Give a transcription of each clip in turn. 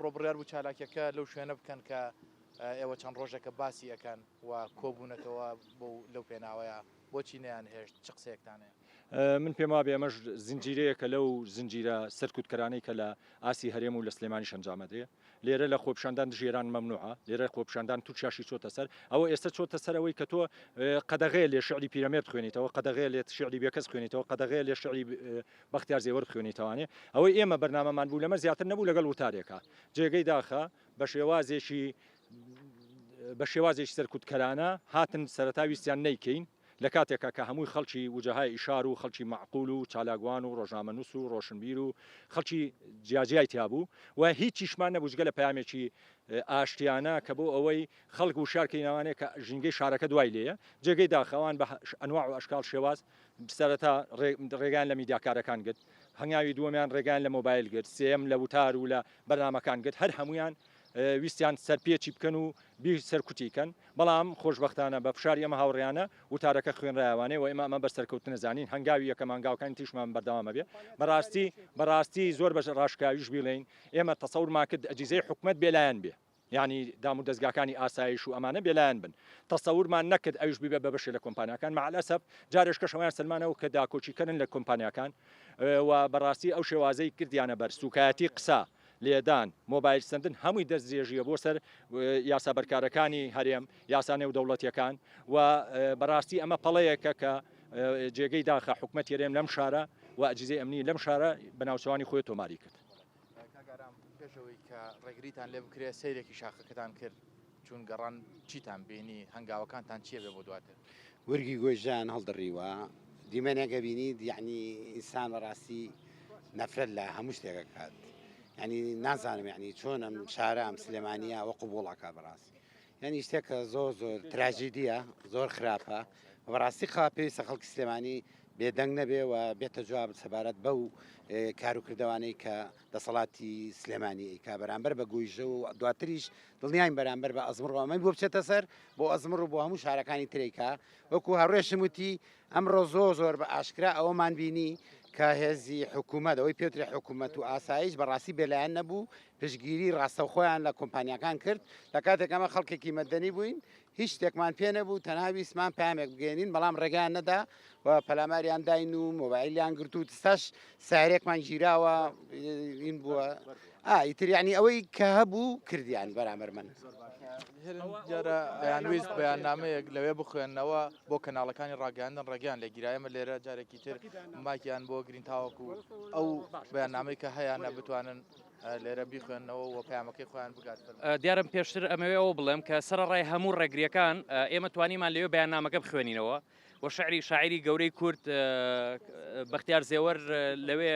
ئەمڕۆ بڕیار بوو چالاکیەکە لەو شوێنە بکەن کە ئێوە چەند ڕۆژێکە باسی ئەەکەن و کۆبوونەتەوە بۆ لەو پێناوەیە بۆچی نیان هێشت چ قسەیەکتانەیە من پێم وابێ ئەمەش زنجیرەیەکە لەو زنجیرە سەرکوتکەرانەی کە لە ئاسی هەرێم و لە سلێمانی شەنجامەدرێ لێرە لە خۆپیشاندان دژی ئێران مەمنوعە، لێرە خۆپیشاندان تورکیاشی چۆتە سەر، ئەوە ئێستە چۆتە سەر ئەوەی کە تۆ قەدەغەیە لێ شیعری پیرەمێرد خوێنیتەوە، قەدەغەیە لێت شیعری بێکەس خوێنیتەوە، قەدەغەیە لێ شیعری بەختیار زێوەرد خوێنیتەوانێ، ئەوەی ئێمە بەرنامەمان بوو لەمە زیاتر نەبوو لەگەڵ وتارێکا جێگەی داخە بە شێوازێکی بە شێوازێکی سەرکوتکەرانە هاتن سەرەتا ویستیان نەیکەین، لە کاتێکا کە هەمووی خەڵکی وجهاء اشار و خەڵکی مەعقول و چالاکوان و ڕۆژنامەنووس و ڕۆشنبیر و خەڵکی جیاجیای تیا بوو و هیچیشمان نەبوو جگە لە پەیامێکی ئاشتیانە کە بۆ ئەوەی خەڵک وشیار کەین ئەوانەیە کە ژینگەی شارەکە دوای لێیە جێگەی داخە ئەوان بە ئەنواع و ئەشکال و شێواز سەرەتا ڕێگەیان لە میدیاکارەکان گرت هەنگاوی دووەمیان ڕێگەیان لە مۆبایل گرت سێیەم لە وتار و لە بەرنامەکان گرت هەر هەموویان ویستیان سەرپێچی بکەن و بیر سەرکوتی کەن، بەڵام خۆشبەختانە بە فشاری ئەم هاوڕێیانە وتارەکە خوێنرایە وانەیە و ئێمە ئەمە بە سەرکەوتنە زانین، هەنگاوی یەکەمە هەنگاوەکانی تریشمان بەردەوام ئەبێ، بەڕاستی بەڕاستی زۆر بە ڕاشکاویش بیڵێین ئێمە تەسەورمان کرد ئەجیزەی حکومەت بێلایەن بێ یانی دامودەزگاکانی ئاسایش و ئەمانە بێلایەن بن تەسەورمان نەکرد ئەویش ببێ بە بەشێ لە کۆمپانیاکان مع الاسف جارێش کەش ئەویان سەلمانەوە کە داکۆکیکەرن لە کۆمپانیاکان و بەڕاستی ئەو شێوازەی کردیانە بەر سوکایەتی قسە لێدان، مۆبایل سەندن هەمووی دەستدرێژییە بۆ سەر یاسا بەرکارەکانی هەرێم، یاسا نێودەوڵەتییەکان و بەڕاستی ئەمە پەڵەیەکە کە جێگەی داخە حکومەتی هەرێم لەم شارە و ئەجیزەی ئەمنی لەم شارە بە ناوچەوانی خۆی تۆماری کرد. کاک ئارام پێش ئەوەی کە ڕێگریتان لێ بکرێت سەیرێکی شاخەکەتان کرد، چون گەڕان چیتان بینی؟ هەنگاوەکانتان چیە بێ بۆ دواتر؟ گورگی گۆی ژیان هەڵدڕیوە دیمەنێک ئەبینیت یەعنی ئینسان بەڕاستی نەفرەت لە هەموو شتێک ئەکات یەعنی نازانم یەعنی چۆن ئەم شارە ئەم سلێمانییە ئەوە قبووڵ ئەکات بەڕاستی یەعنی شتێکە زۆر زۆر تراژیدییە زۆر خراپە بەڕاستی خوا پێویستە خەڵکی سلێمانی بێدەنگ نەبێ و بێتە جواب سەبارەت بەو کاروکردەوانەی کە دەسەڵاتی سلێمانی ئەیکا بەرامبەر بە گۆیژە و دواتریش دڵنیاین بەرامبەر بە ئەزمڕ و ئەمەی بۆ بچێتە سەر بۆ ئەزمڕ و بۆ هەموو شارەکانی ترێکا وەکو هەڕێشم وتی ئەمڕۆ زۆر زۆر بە ئاشکرا ئەوەمان بینی کە هێزی حکوومەت ئەوەی پێوترێ حکوومەت و ئاسایش بەڕاستی بێلایەن نەبوو پشگیری ڕاستەوخۆیان لە کۆمپانیەکان کرد لە کاتێک ئەمە خەڵکێکی مەدەنی بووین هیچ شتێکمان پێ نەبوو تەنها ویستمان پامێک بگەێنین بەڵام ڕێگەیان نەدا و پەلاماریان داین و مۆبایلیان گرت و تستاش سارێکمان گیراوە این بووە ئایتریانی ئەوەی کە هەبوو کردیان بەرامەر من جارە یانویست بەیاننامەیەک لەوێ بخوێندنەوە بۆ کەناڵەکانی ڕاگەاندن ڕێگەیان لە گیرایمە لێرە جارێکی تر ماکیان بۆ گرین تاوەکو ئەو بەیاننامەی کە هەیەە بتوانن لێرە بیخوێنەوە و پەیامەکەی خۆیان بگات. دیارم پێشتر ئەمەوێ ئەوە بڵێم کە سەرڕای هەموو ڕێگریەکان ئێمە توانیمان لەوێ بەیاننامەکە بخوێنینەوە و شعری شاعری گەورەی کورد بەختیار زێوەر لەوێ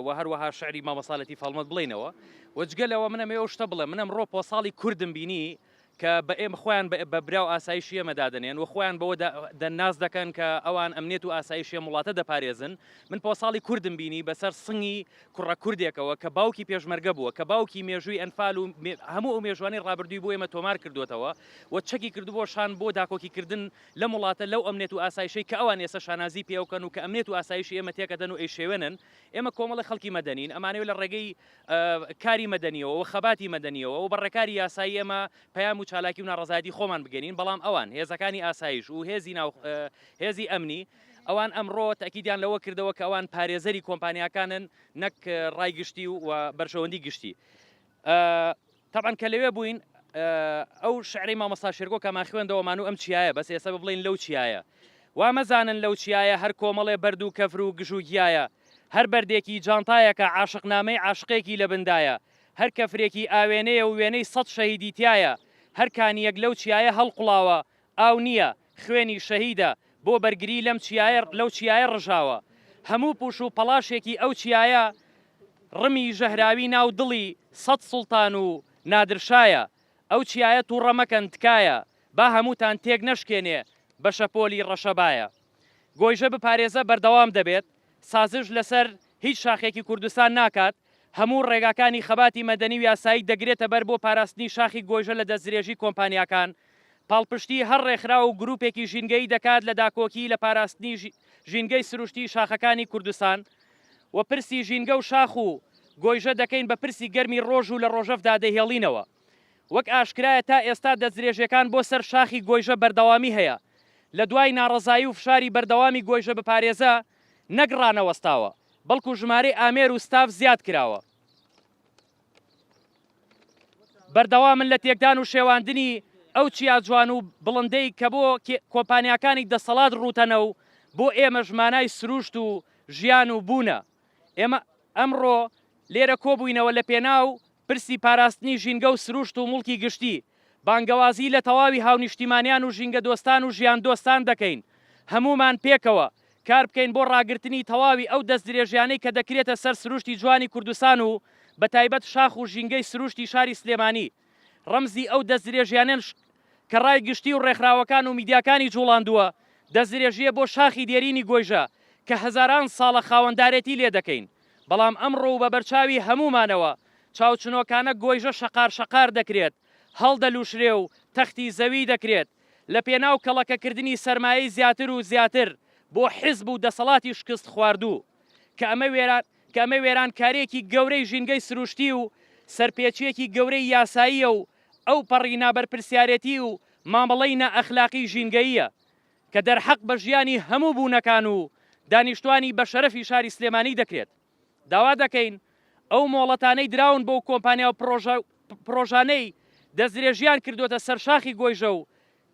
و هەروەها شعری مامەساالەتی فەڵمەت بڵینەوە وەجگە لەوە منەمێ ئەو شتە بڵێ منم ڕۆ پۆساڵی کوردم بینی کە بە ئێمە خۆیان بە برا و ئاسایشی ئێمە دادەنێن و خۆیان بەوە دە ناس دەکەن کە ئەوان ئەمنێت و ئاسایشی ئەم وڵاتە دەپارێزن من پۆساڵی کوردم بینی بەسەر سنگی کوڕە کوردێکەوە کە باوکی پێشمەرگە بووە کە باوکی مێژووی ئەنفال و هەموو ئەو مێژوانی ڕابردووی بۆ ئێمە تۆمار کردوێتەوە و چەکی کردبووە شان بۆ داکۆکی کردن لەم وڵاتە لەو ئەمنێت و ئاسایشەی کە ئەوان ئێستا شانازی پێوکەن و کە ئەمنێت و ئاسایشی ئێمە تێکەدەن و ئەیشێوێنن ئێمە کۆمەڵی خەڵکی مەدەنین ئەمانەوێت لە ڕێگەی کاری مەدەنیەوە و خەباتی مەدەنیەوە و بە ڕێکاری یاسایی ئێمە پەیام و چالاکی و ناڕەزایەتی خۆمان بگەنین بەڵام ئەوان هێزەکانی ئاسایش و هێزی ناو هێزی ئەمنی ئەوان ئەمڕۆ تاکیدیان لەوە کردەوە کە ئەوان پارێزەری کۆمپانیاکانن نەک ڕای گشتی و بەرژەوەندی گشتی تەبعەن کە لەوێ بووین ئەو شعرەی مامۆستا شێرگۆ کەمان خوێندەوە مانوو ئەم چیایە بەس ئێستا بڵین لەو چیایە وا مەزانن لەو چیایە هەر کۆمەڵێ بەرد و کەفر و گژ و گیایە هەر بەردێکی جانتایەکە عاشق نامەی عاشقێکی لە بندایە هەر کەفرێکی ئاوێنەیە و وێنەی سەد شەهیدی تایە هەر کانیەک لەو چیایە هەڵقوڵاوە ئاو نییە خوێنی شەهیدە بۆ بەرگری لەم چیایە لەو چیایە ڕژاوە هەموو پوش و پەڵاشێکی ئەو چیایە ڕمی ژەهراوی ناو دڵی سەد سوڵتان و نادرشایە ئەو چیایە توڕە مەکەن تکایە با هەمووتان تێک نەشکێنێ بە شەپۆلی ڕەشەبایە گۆیژە بپارێزە بەردەوام دەبێت. سازش لەسەر هیچ شاخێکی کوردستان ناکات، هەموو ڕێگاکانی خەباتی مەدەنی و یاسایی دەگرێتە بەر بۆ پاراستنی شاخی گۆیژە لە دەستدرێژی کۆمپانیاکان، پاڵپشتی هەر ڕێکخراو و گروپێکی ژینگەیی دەکات لە داکۆکی لە پاراستنی ژینگەی سروشتی شاخەکانی کوردستان و پرسی ژینگە و شاخ و گۆیژە دەکەین بە پرسی گەرمی ڕۆژ و لە ڕۆژەڤدا دەیهێڵینەوە. وەک ئاشکرایە تا ئێستا دەستدرێژیەکان بۆ سەر شاخی گۆیژە بەردەوامی هەیە، لە دوای ناڕەزایی و فشاری بەردەوامی گۆیژە بپارێزە نەک ڕانەوەستاوە، بەڵکو ژمارەی ئامێر و ستاف زیاد کراوە. بەردەوامن لە تێکدان و شێواندنی ئەو چیا جوان و بڵندەی کە بۆ کۆمپانیاکانی دەسەڵات ڕووتەنە و بۆ ئێمەش مانای سروشت و ژیان و بوونە. ئێمە ئەمڕۆ لێرە کۆبووینەوە لە پێناو پرسی پاراستنی ژینگە و سروشت و موڵکی گشتی، بانگەوازی لە تەواوی هاونیشتیمانیان و ژینگەدۆستان و ژیاندۆستان دەکەین هەموومان پێکەوە کاربکەین بۆ ڕاگرتنی تەواوی ئەو دەستدرێژیانەی کە دەکرێتە سەر سروشتی جوانی کوردستان و بەتایبەت شاخ و ژینگەی سروشتی شاری سلێمانی ڕەمزی ئەو دەستدرێژیانەن کە ڕای گشتی و ڕێکخراوەکان و میدیاکانی جوڵاندووە، دەستدرێژییە بۆ شاخی دێرینی گۆیژە کە هەزاران ساڵە خاوەندارێتی لێدەکەین. بەڵام ئەمڕۆ و بە بەرچاوی هەموومانەوە چاوچنۆکانە گۆیژە شەقار شەقار دەکرێت، هەڵدەلوشرێ و تەختی زەوی دەکرێت، لە پێناو کەڵەکەکردنی سەرمایەی زیاتر و زیاتر بۆ حیزب و دەسەڵاتی شکست خواردوو، کە ئەمە وێران کە ئەمە وێرانکاریەکی گەورەی ژینگەی سروشتی و سەرپێچیەکی گەورەی یاساییە و ئەوپەڕی نابەرپرسیارێتی و مامەڵەی نائەخلاقی ژینگەییە کە دەرحەق بە ژیانی هەموو بوونەکان و دانیشتوانی بەشەرەفی شاری سلێمانی دەکرێت، داوا دەکەین ئەو مۆڵەتانەی دراون بۆ کۆمپانیا و پڕۆژانەی دەستدرێژییان کردووەتە سەر شاخی گۆیژە و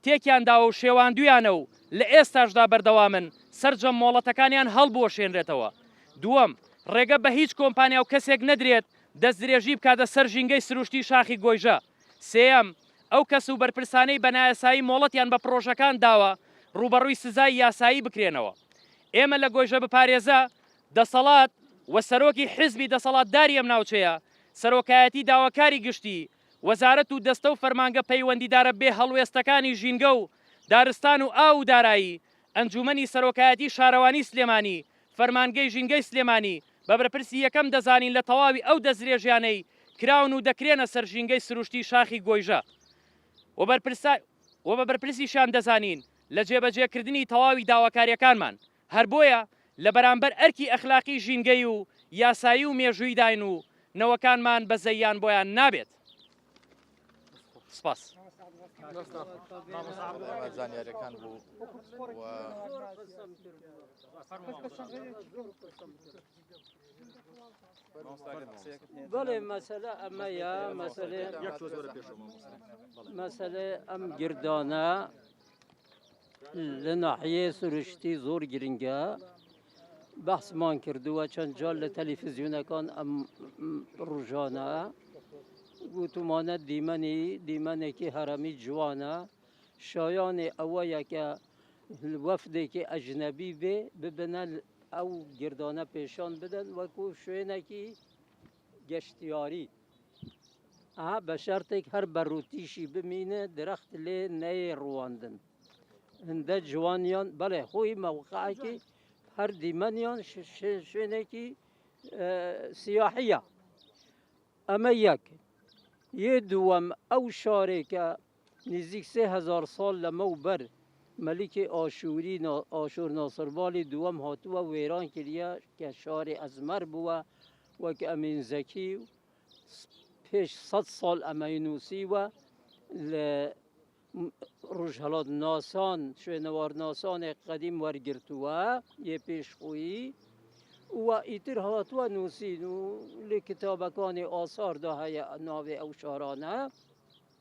تێکیان داوە و شێواندوویانە و لە ئێستاشدا بەردەوامن سەرجەم مۆڵەتەکانیان هەڵبوەشێنرێتەوە دووەم ڕێگە بە هیچ کۆمپانیا و کەسێک نەدرێت دەستدرێژی بکاتە سەر ژینگەی سروشتی شاخی گۆیژە سێیەم ئەو کەس و بەرپرسانەی بە نایاسایی مۆڵەتیان بە پڕۆژەکان داوە ڕووبەڕووی سزای یاسایی بکرێنەوە. ئێمە لە گۆیژە بپارێزە دەسەڵات و سەرۆکی حزبی دەسەڵاتداری ئەم ناوچەیە، سەرۆکایەتی داواکاری گشتی، وەزارەت و دەستە و فەرمانگە پەیوەندیدارە بێ هەڵوێستەکانی ژینگە و دارستان و ئاو و دارایی ئەنجوومەنی سەرۆکایەتی شارەوانی سلێمانی، فەرمانگەی ژینگەی سلێمانی بە بەرپرسی یەکەم دەزانین لە تەواوی ئەو دەستدرێژیانەی کراون و دەکرێنە سەر ژینگەی سروشتی شاخی گۆیژە و بەرپرسای و بە بەرپرسیشیان دەزانین لە جێبەجێ کردنی تەواوی داواکاریەکانمان هەر بۆیە لە بەرامبەر ئەرکی ئەخلاقی ژینگەی و یاسایی و مێژوویداین و نەوەکانمان بەزەییان بۆیان نابێت. سپاس زانیارەکان بوو بەڵێ مەسەلە ئەمەیە مەسەلێ مەسەلێ ئەم گردانە لە ناحیەی سروشتی زۆر گرنگە بەحسمان کردووە چەند جار لە تەلیفزیونەکان ئەم ڕژانە گوتومانە دیمەنی دیمەنێکی هەرەمی جوانە شایانی ئەوەیە کە وەفدێکی ئەژنەبی بێ ببنە ئەو گردانە پێشان بدەن وەکو شوێنێکی گەشتیاری بە شەرتێک هەر بە ڕووتیشی بمینێ درەخت لێ نەیە ڕوواندن هەندە جوانیان بەڵێ خۆی مەوقعکی هەر دیمەنیان شوێنێکی سیاحە ئەمە یەک یێ دووەم ئەو شارێکە نزیک سێ هەزار ساڵ لەمەو بەر مەلیکی ئاشووری ئاشورناسربالی دووەم هاتووە وێران کریە کە شاری ئەزمەر بووە وەک ئەمین زەکی پێش سەد ساڵ ئەمەی نووسیوە لە ڕژهڵات ناسان شوێنەوار ناسانێک قەدیم وەرگرتووە یە پێش خۆیی و ئیتر هاتووە نووسین و لە کتابەکانی ئاساردا هەیە ناوێ ئەو شارانە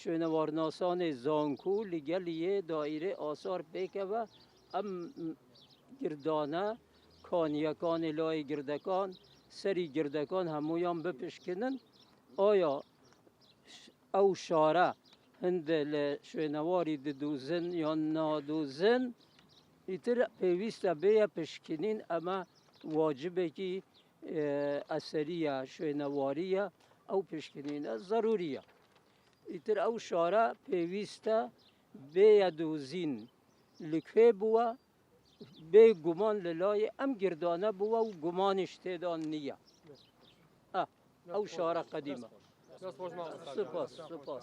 شوێنەوارناسانێ زانکۆ لەگەل یێ دایرەێ ئاسار پێکەوە ئەم گردانە کانیەکانێ لای گردەکان سەری گردەکان هەموویان بپشکنن ئایا ئەو شارە هەندێ لە شوێنەواری ددوزن یان نادوزن ئیتر پێویستە بێە پشکنین ئەمە واجبێکی ئەسەریە شوێنەواریە ئەو پشکنینە زەروریە ئیتر ئەو شارە پێویستە بێە دۆزین لکوێ بووە بێ گومان لە لای ئەم گردانە بووە و گومانی شتێدان نییە ئەو شارە قەدیمە سپاس سپاس